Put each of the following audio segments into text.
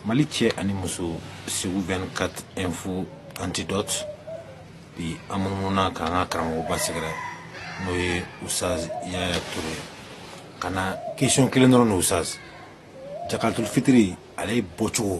mali cɛ ani muso segu 24 info antidote bi an munumununa k'an ka karamɔgɔba sɛgɛrɛ n'o ye usaz yaya ture ye ka na kesiyɔn kelen dɔrɔn na usaz jakatul fitiri ale bɔcogo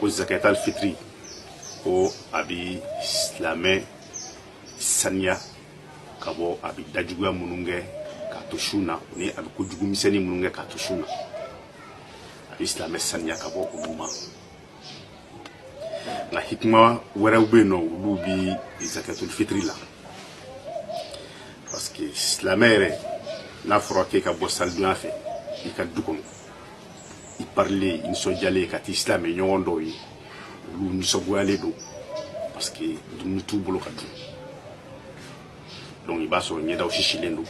ko zakatul fitiri ko a bi silamɛ saniya ka bɔ a bi dajuguya minnu kɛ k'a to sun na ni a bi ko jugu misɛnnin minnu kɛ k'a to sun na a bi silamɛ saniya ka bɔ olu ma nka hikima wɛrɛw bɛ yen n'olu bi zakatul fitiri la parce que silamɛ yɛrɛ n'a fɔra k'e ka bɔ salidon yan fɛ i ka du kɔnɔ i parilen nisɔndiyalen ka t'i silamɛ ɲɔgɔn dɔw ye olu nisɔngoyalen don parce que dumuni t'u bolo ka dun donc i b'a sɔrɔ ɲɛdaw sisilen don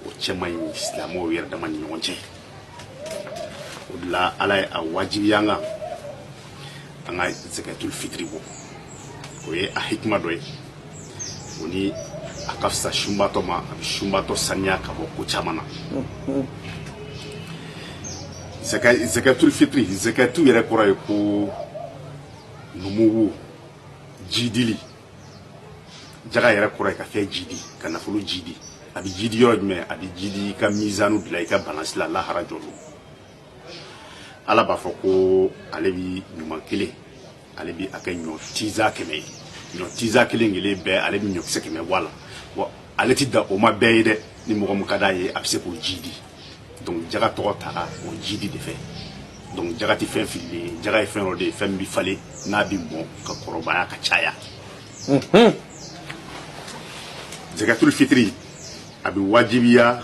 o cɛ man ɲi silamɛw yɛrɛ dama ni ɲɔgɔn cɛ o de la ala ye a wajibiya an kan an ka zakatul fitiri bɔ o ye a hikima dɔ ye o ni a ka fisa sunbatɔ ma a bɛ sunbatɔ saniya ka bɔ ko caman na zakatul fitiri zakatu yɛrɛ kɔrɔ ye ko numuwu jidili jaga yɛrɛ kɔrɔ ye ka fɛn jidi ka nafolo jidi a bɛ jidi yɔrɔ jumɛn a bɛ jidi i ka mizanu de la i ka balansi la lahara jɔ lon ala b'a fɔ ko ale bi ɲuman kelen ale bɛ a kɛ ɲɔ tinzan kɛmɛ ye ɲɔ tinzan kelen kelen bɛɛ ale bɛ ɲɔkisɛ kɛmɛ bɔ a la wa ale tɛ dan o ma bɛɛ ye dɛ ni mɔgɔ min ka d'a ye a bɛ se k'o jidi donc jaga tɔgɔ tara o jidi de fɛ donc jaga tɛ fɛn fililen ye jaga ye fɛn dɔ de ye fɛn min bɛ falen n'a bɛ mɔn ka kɔrɔbaya ka caya zakatul fitiri a bɛ wajibiya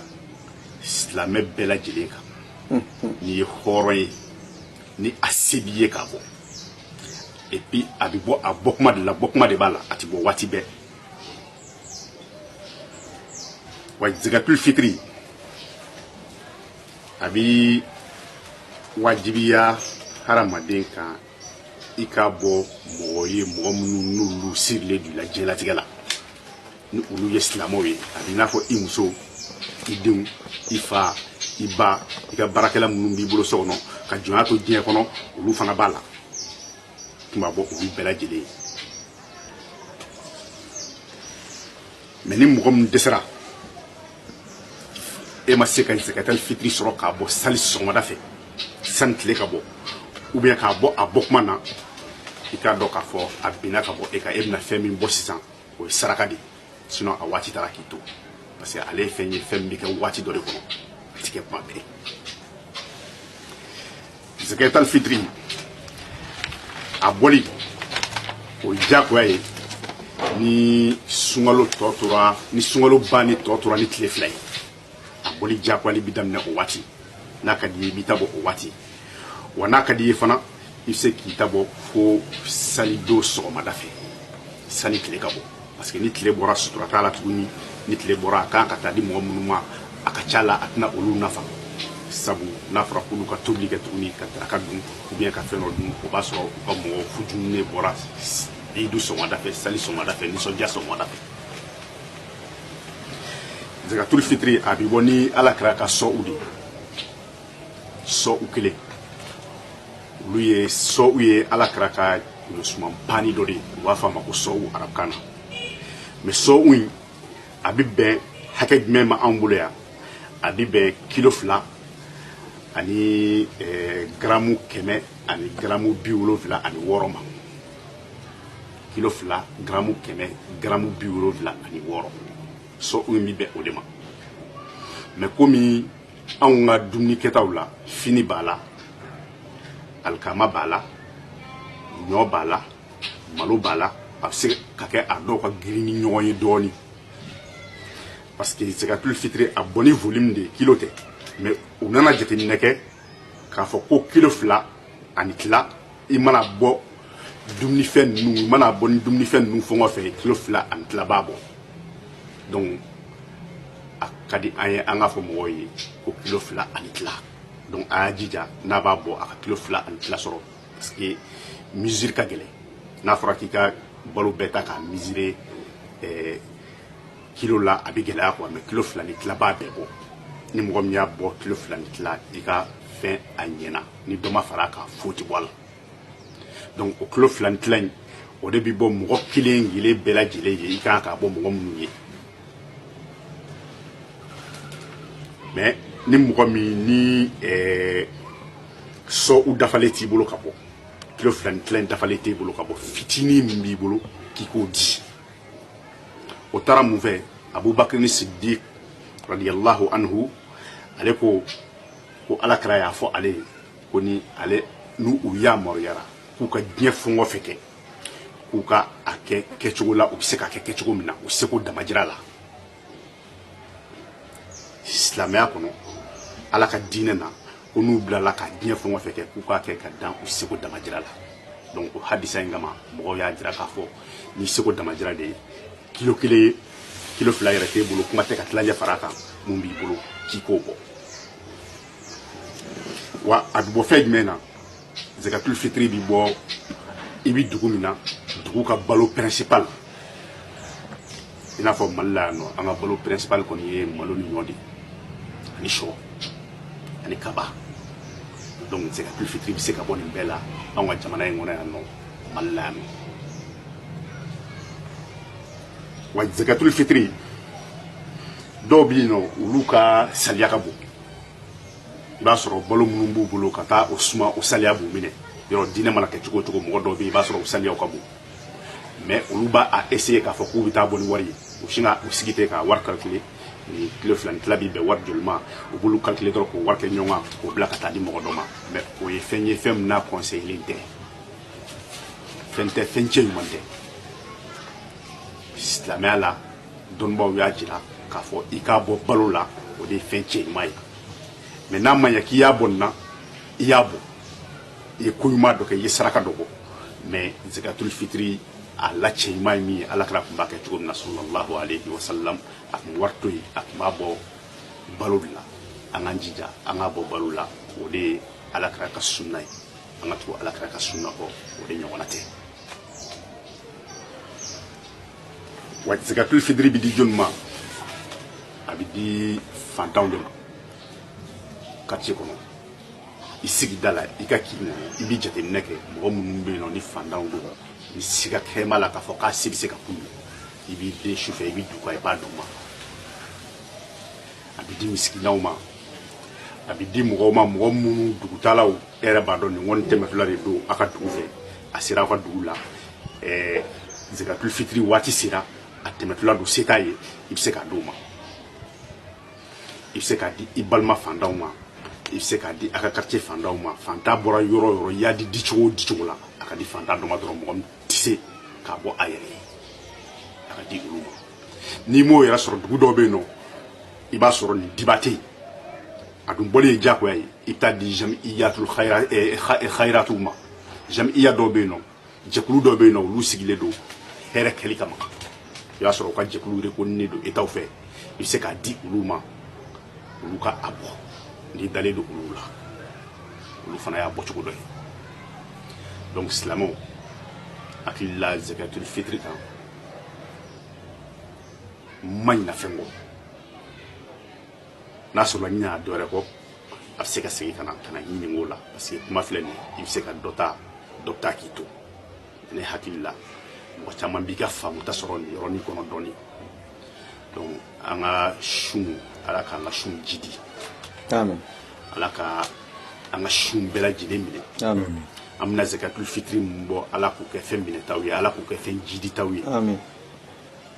silamɛ bɛɛ lajɛlen kan n'i ye hɔrɔn ye ni a se b'i ye k'a bɔ et puis a bɛ bɔ a bɔ kuma de la bɔ kuma de b'a la a tɛ bɔ waati bɛɛ wa zakatul fitiri a bɛ wajibiya hadamaden kan i ka bɔ mɔgɔ ye mɔgɔ minnu n'olu sirilen don i la diɲɛlatigɛ la ni olu ye silamɛw ye a b'i n'a fɔ i muso i denw i fa i ba i ka baarakɛla minnu b'i bolo so kɔnɔ ka jɔnya to diɲɛ kɔnɔ olu fana b'a la tun b'a bɔ olu bɛɛ lajɛlen ye mais ni mɔgɔ min dɛsɛra e ma se ka zakatul fitiri sɔrɔ k'a bɔ sali sɔgɔmada fɛ sani tile ka bɔ ou bien k'a bɔ a bɔ kuma na i k'a dɔn k'a fɔ a binna ka bɔ e kan e bɛna fɛn min bɔ sisan o ye saraka de ye sinon a waati taara k'i to parce que ale ye fɛn ye fɛn min bɛ kɛ waati dɔ de kɔnɔ a tɛ kɛ tuma bɛɛ mais zakatulu fitiri a bɔli o ye diyagoya ye ni sunkalo tɔ tora ni sunkalo banni tɔ tora ni tile fila ye a bɔli jagoyali bɛ daminɛ o waati n'a ka di i ye i b'i ta bɔ o waati wa n'a ka di i ye fana i bɛ se k'i ta bɔ fo salidon sɔgɔmada fɛ sani tile ka bɔ parce que ni tile bɔra sutura t'a la tuguni ni tile bɔra a kan ka taa di mɔgɔ minnu ma a ka ca la a tɛna olu nafa sabu n'a fɔra k'olu ka tobili kɛ tuguni ka daraka dun ou bien ka fɛn dɔ dun o b'a sɔrɔ u ka mɔgɔ futuninen bɔra idu sɔgɔmada fɛ sali sɔgɔmada fɛ nisɔndiya sɔgɔmada fɛ zakatulu fitiri a bɛ bɔ ni ala kira ka sɔu de sɔu kelen olu ye sɔu ye ala kira ka suman pani dɔ de ye u b'a fɔ a ma ko sɔu arabukan na mɛ sɔu in a bɛ bɛn hakɛ jumɛn ma anw bolo yan a bɛ bɛn kilo fila ani garamu kɛmɛ ani garamu bi wolonfila ani wɔɔrɔ ma kilo fila garamu kɛmɛ garamu bi wolonwula ani wɔɔrɔ sɔu bɛ bɛn o de ma mɛ komi anw ka dumuni kɛtaw la fini b'a la alikama b'a la ɲɔ b'a la malo b'a la a bɛ se ka kɛ a dɔw ka girin ni ɲɔgɔn ye dɔɔnin parce que zakatulu fitiri a bɔ ni volume de kilo tɛ mɛ u nana jateminɛ kɛ k'a fɔ ko kilo fila ani tila i mana bɔ dumunifɛn ninnu i mana bɔ ni dumunifɛn ninnu fɛn o fɛn kilo fila ani tila b'a bɔ donc a ka di an ye an k'a fɔ mɔgɔw ye ko kilo fila ani tila donc a y'a jija n'a b'a bɔ a ka kilo fila ani tila sɔrɔ parce que mesure ka gɛlɛn n'a fɔra k'i ka balo bɛɛ ta k'a mesurer eh, kilo la a bɛ gɛlɛya quoi mais kilo fila ni tila b'a bɛɛ bɔ ni mɔgɔ min y'a bɔ kilo fila ni tila i ka fɛn a ɲɛna ni dɔ ma fara a kan foyi tɛ bɔ a la donc o kilo fila ni tila in o de bɛ bɔ mɔgɔ kelen kelen bɛɛ lajɛlen ye i ka kan k'a bɔ mɔgɔ minnu ye mais ni mɔgɔ min ni ɛɛ eh, sɔu dafalen t'i bolo ka bɔ kilo fila ni tila in dafalen t'i bolo ka bɔ fitinin min b'i bolo k'i k'o di o taara mun fɛ abubakarin sidiki radiyallahu anhu ale ko ko ala kira y'a fɔ ale ye ko ni ale n'u u yamaruyara k'u ka diɲɛ fɛn o fɛn kɛ k'u ka a kɛ kɛcogo la u bɛ se ka kɛ kɛcogo min na u seko damajira la silamɛya kɔnɔ ala ka diinɛ na ko n'u bilala ka diɲɛ fɛn o fɛn kɛ k'u k'a kɛ ka dan u seko damajira la donc o hadisa in kama mɔgɔw y'a jira k'a fɔ ni seko damajira de ye kilo kelen ye kilo fila yɛrɛ t'i bolo kuma tɛ ka tilancɛ fara a kan min b'i bolo k'i k'o bɔ wa a bɛ bɔ fɛn jumɛn na zakatul fitiri bɛ bɔ i bɛ dugu min na dugu ka balo principal i n'a fɔ mali la yan nɔ an ka balo principal kɔni ye malo ni ɲɔ de ye ani sɔ ani kaba donc zakatul fitiri bɛ se ka bɔ nin bɛɛ la anw ka jamana in kɔnɔ yan nɔ ballam wa zakatul fitri dɔw bɛ yen nɔ olu ka salaya ka bon i b'a sɔrɔ balo minnu b'u bolo ka taa o suma o salaya b'u minɛ yɔrɔ diinɛ mana kɛ cogo o cogo mɔgɔ dɔw bɛ yen i b'a sɔrɔ o salaya ka bon mɛ olu b'a essayer k'a fɔ k'u bɛ taa a bɔ ni wari ye u sin ka u sigi ten k'a wari calculer ni kilo fila ni tila bi bɛn wari joli ma u b'olu calculer dɔrɔn k'o wari kɛ ɲɔgɔn kan k'o bila ka taa di mɔgɔ dɔ ma mɛ o ye fɛn ye fɛn min n'a conseillé tɛ fɛn tɛ fɛn cɛ ɲuman tɛ silamɛya la dɔnnibaaw y'a jira k'a fɔ i k'a bɔ balo la o de ye fɛn cɛ ɲuman ye mɛ n'a ma ɲɛ k'i y'a bɔ nin na i y'a bɔ i ye ko ɲuman dɔ kɛ i ye saraka dɔ bɔ mɛ zakatul fitiri a la cɛ ɲuman ye min ye ala kira tun b'a kɛ cogo min na sɔlɔlahu alehi wasalam a tun bɛ wari to yen a tun b'a bɔ balo de la an k'an jija an k'a bɔ balo la o de ye ala kira ka sunna ye an ka tugu ala kira ka sunna kɔ o de ɲɔgɔnna tɛ wa zakatul fitiri bi di jɔni ma a bi di fantanw de ma quartier kɔnɔ i sigida la i ka kin na i bi jateminɛ kɛ mɔgɔ minnu bɛ yen nɔ ni fantanw don ni siga kɛrɛn b'a la k'a fɔ k'a se bɛ se ka k'u ye i b'i dɛn su fɛ i b'i dogo i b'a d'u ma a bɛ di misikinanw ma a bɛ di mɔgɔw ma mɔgɔ minnu dugutaalaw e yɛrɛ b'a dɔn nin kɔni tɛmɛtɔla de don a ka dugu fɛ a sera aw ka dugu la ɛɛ zakatul fitiri waati sera a tɛmɛtɔla don se t'a ye i bɛ se k'a di o ma i bɛ se k'a di i balima fantanw ma i bɛ se k'a di a ka quartier fantanw ma fantan bɔra yɔrɔ o yɔrɔ i y'a di di cogo o di cogo la a ka di fantan dɔ ma dɔrɔn mɔgɔ min tɛ se k'a bɔ a yɛrɛ ye a ka di olu ma n'i m'o yɛrɛ sɔrɔ dugu dɔw bɛ yen nɔ i b'a sɔrɔ nin diba tɛ yen a dun bɔli ye diyagoya ye i bɛ taa di jamiyatul khayiratuw ma jamiya dɔw bɛ yen nɔ jɛkulu dɔw bɛ yen nɔ olu sigilen don hɛrɛ kɛli kama i b'a sɔrɔ u ka jɛkulu reconnu don état fɛ i bɛ se k'a di olu ma olu ka a bɔ n'i dalen don olu la olu fana y'a bɔcogo dɔ ye donc silamɛw hakili la zakatul fitiri kan ma ɲina fɛn kɔ n'a sɔrɔla n ɲinɛna dɔwɛrɛ kɔ a bɛ se ka segin ka na ka na nin ko la parce que kuma filɛ nin i bɛ se ka dɔ ta dɔ bɛ taa k'i to ne hakili la mɔgɔ caman b'i ka faamuta sɔrɔ nin yɔrɔnin kɔnɔ dɔɔnin donc an ka sun ala k'an ka sun jiidi ala ka an ka sun bɛɛ lajɛlen minɛ an bɛna zakatul fitiri min bɔ ala k'o kɛ fɛn minɛtaw ye ala k'o kɛ fɛn jiiditaw ye